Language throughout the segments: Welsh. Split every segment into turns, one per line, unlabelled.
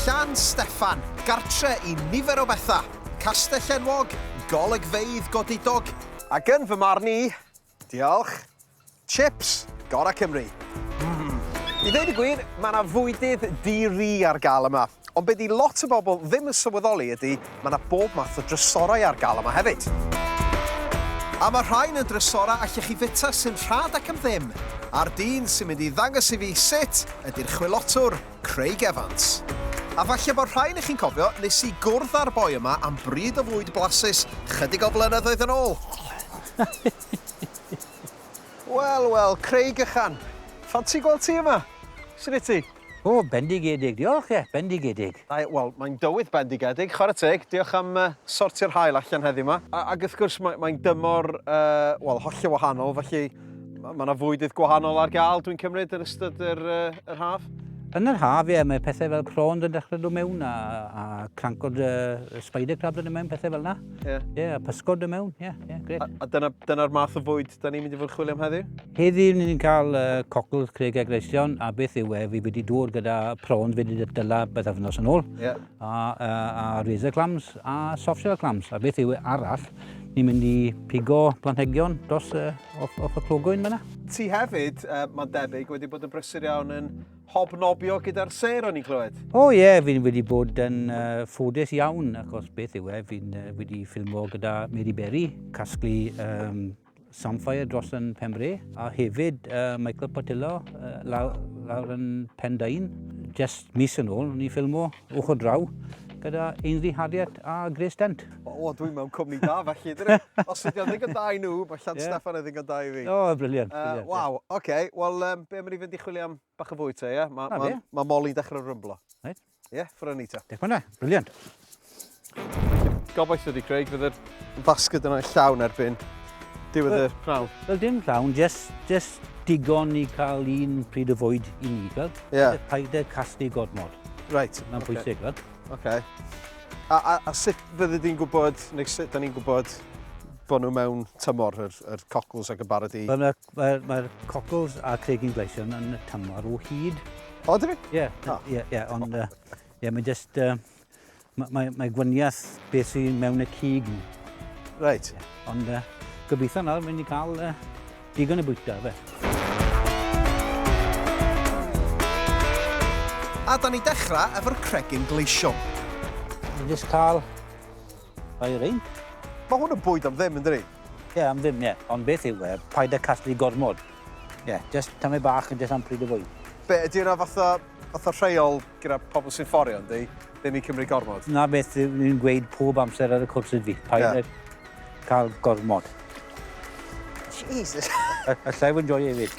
Llan Steffan, gartre i nifer o bethau, castell enwog, golygfeydd godidog, Ac yn fy marn i, diolch, chips gorau Cymru. Mmm. I ddweud y gwir, mae 'na fwydydd di-ri ar gael yma, ond be' 'di lot o bobl ddim yn sylweddoli ydi, Mae 'na bob math o drysorau ar gael yma hefyd. A mae rhain yn drysorau allech chi fwyta sy'n rhad ac am ddim, a'r dyn sy'n mynd i ddangos i fi sut ydy'r chwilotwr, Craig Evans. A falle bod rhai onoch chi'n cofio, nes i gwrdd â'r boi yma am bryd o fwyd blasus 'chydig o flynyddoedd yn ôl. Wel, wel, Craig ychan. Ffansi gweld ti yma. Sut wyt ti? O, bendigedig.
Diolch, ie, bendigedig. Ie, wel, mae'n dywydd
bendigedig, chwarae teg. Diolch am sortio'r haul allan heddiw 'ma. Ac wrth gwrs, mae'n dymor, wel, hollol wahanol, felly mae yna fwydydd gwahanol ar gael, dwi'n cymryd, yn ystod yr haf? Yn yr haf,
ie, mae pethau fel prawns yn dechrau dod mewn a crancod spider crabs yn dod mewn, pethau fel yna. Ie. Ie, a pysgod y mewn. Ie, ie, gret. A, a dyna'r dyna
math o fwyd da ni'n mynd i fod yn chwilio am heddiw? Heddiw ni'n cael
uh, cocl Craig a Greision, a beth yw e, fi wedi dŵr gyda prawns fi wedi dyla beth afnos yn ôl, yeah. a, a, a razor clams a soft shell clams, a beth yw e arall, ni'n mynd i pigo planhegion dros uh, off, off y clogwyn fyna. Ti hefyd,
uh, mae'n debyg, wedi bod yn brysur iawn yn Hobnobio gyda'r sêr o'n i'n clywed? O oh, ie, yeah, fi'n wedi
bod yn uh, ffodus iawn, achos beth yw e, fi'n uh, wedi ffilmo gyda Mary Berry, casglu um, Samfire dros yn Pembre, a hefyd uh, Michael Patillo uh, lawr, lawr yn Pendain. Just mis yn ôl, ni'n ffilmo. Ochr draw, gyda Ainsley Harriet a Grace Dent. O, o dwi mewn cwmni
da felly, dwi. Os ydy o'n ddigon da i nhw, mae Llan yeah. Steffan yn ddigon da i fi. O, oh, briliant. Uh, briliant Waw,
oce.
Okay. Wel, um, be mae'n i fynd i chwilio am bach o fwy te, ie? Mae ma, ma, ma Molly dechrau rymblo. Right. Ie, yeah,
ffrwni te.
Diolch fyna, briliant. Gobeithio di Craig, fydd yr basged yna llawn erbyn diwedd y prawf. Wel dim llawn, just,
just digon i cael un pryd o fwyd i ni, gweld? Ie. Yeah. Paid â casglu gormod. Reit. Mae'n okay. pwysig,
gweld?
Okay.
A, a, a sut fyddi di'n gwybod, neu sut da ni'n gwybod bod nhw mewn tymor, yr, yr cockles ac y barod i? Mae'r ma, ma
cockles a cregyn gleision yn y tymor o hyd. O, dwi? Ie,
ie, ie, ond
uh, ie, mae jyst uh, Mae, mae, mae gwaniath beth sy'n mewn y cig. Reit.
Ond uh,
gobeithio nawr mynd i cael uh, digon y bwyta, fe.
A da ni dechrau efo'r cregyn gleision. Ni
jyst cael rhoi rein. Mae hwn yn bwyd
am ddim, yn dydi? Ie, yeah, am ddim, ie. Yeah.
Ond beth yw e? Paid â casglu gormod. Ie, yeah, just tamau bach yn just am pryd o fwy. Be, ydy yna fatha
Fatha rheol gyda pobl sy'n fforio yndi? Ddim yn cymryd gormod. Na beth ni'n
gweud pob amser ar y cwrs ydi, paid yeah. â cael gormod.
Jesus. Allai
fod yn joio hefyd.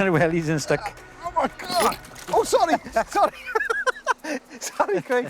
Yr wellies yn stuck. Oh
my god! Oh, sorry! Sorry! sorry, Craig.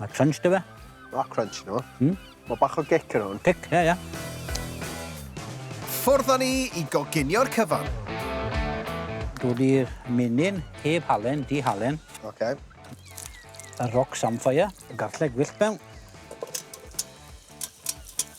Mae crunch dy fe. Mae crunch nhw.
Mm. Mae bach o gic yn hwn. Cic, ie, yeah, ie. Yeah. Ffordd ni i goginio'r cyfan.
Dwi wedi'r menyn heb halen, di halen. Oce. Okay. Y roc samffaia. Y garlleg wyllt mewn.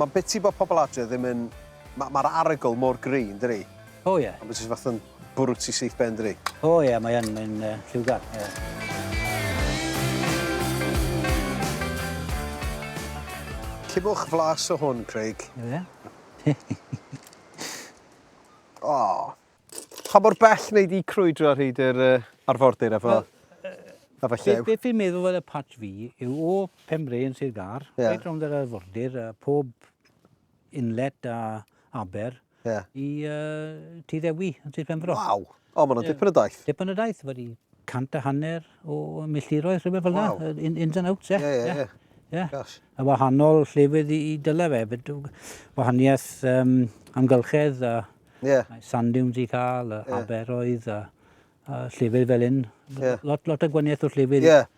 Mae'n biti bod pobl adre ddim yn... Ma- Mae'r arogl mor gry, yn dydi? O ie. Ond mae jyst
fatha'n
bwrw ti syth ben, dydi? O ie, mae yn,
mae'n uh, lliwgar. Yeah.
Cibwch flas o hwn, Craig. Ie. o! Pa mor bell wnei di crwydro ar hyd yr uh, arfordir efo, well, uh, efo llew? Beth fi'n meddwl fel
y patch fi yw o Pembre yn Sir Gar, yeah. reit rownd yr arfordir, uh, pob inlet a aber, yeah. i uh, Tŷ Ddewi yn Sir Pembre. Waw! O, mae'n yeah. dipyn
o daith. Dipyn o daith, wedi
cant a hanner o milltiroedd, rhywbeth fel yna, wow. in, ins and outs, ie. Yeah. Yeah, yeah, yeah. Yeah. A wahanol llefydd i, i dyle fe, wahaniaeth um, amgylchedd a Yeah. Mae sand dunes i cael, y yeah. aberoedd, a, a llefydd fel un. Yeah. Lot, lot o gwaniaeth o llefydd. Yeah.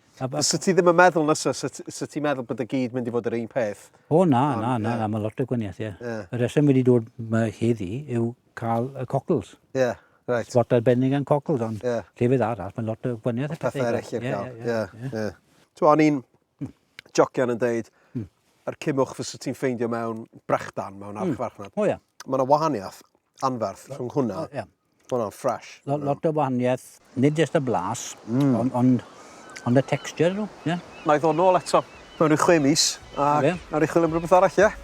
Sa ti ddim
yn meddwl na sa, sa ti'n meddwl bod y gyd mynd i fod yr un peth? O na, um, na, na, yeah.
na, mae lot o gwaniaeth, ie. Yeah. Yeah. Y reswm wedi dod yma heddi yw cael y cockles. Ie. Yeah. Right. Spot
arbennig yn
cockles, ond yeah. llefydd arall, mae lot o gwaniaeth. Pethau eraill i'r cael,
ie. Ti'n o'n i'n Hmm. Jocian yn deud, hmm. yr cymwch fysa ti'n ffeindio mewn brechdan, mewn hmm. archfarchnad. Mm. O ia. Mae yna
wahaniaeth
anferth rhwng hwnna. O, ia. Mae hwnna'n ffres. Lot, lot o wahaniaeth,
nid jyst y blas, mm. ond on, on y texture nhw. Yeah. Na i ddod nôl
eto. Mae'n rhyw chwe mis, a nawr i chwilio am rhywbeth arall, ie? Yeah?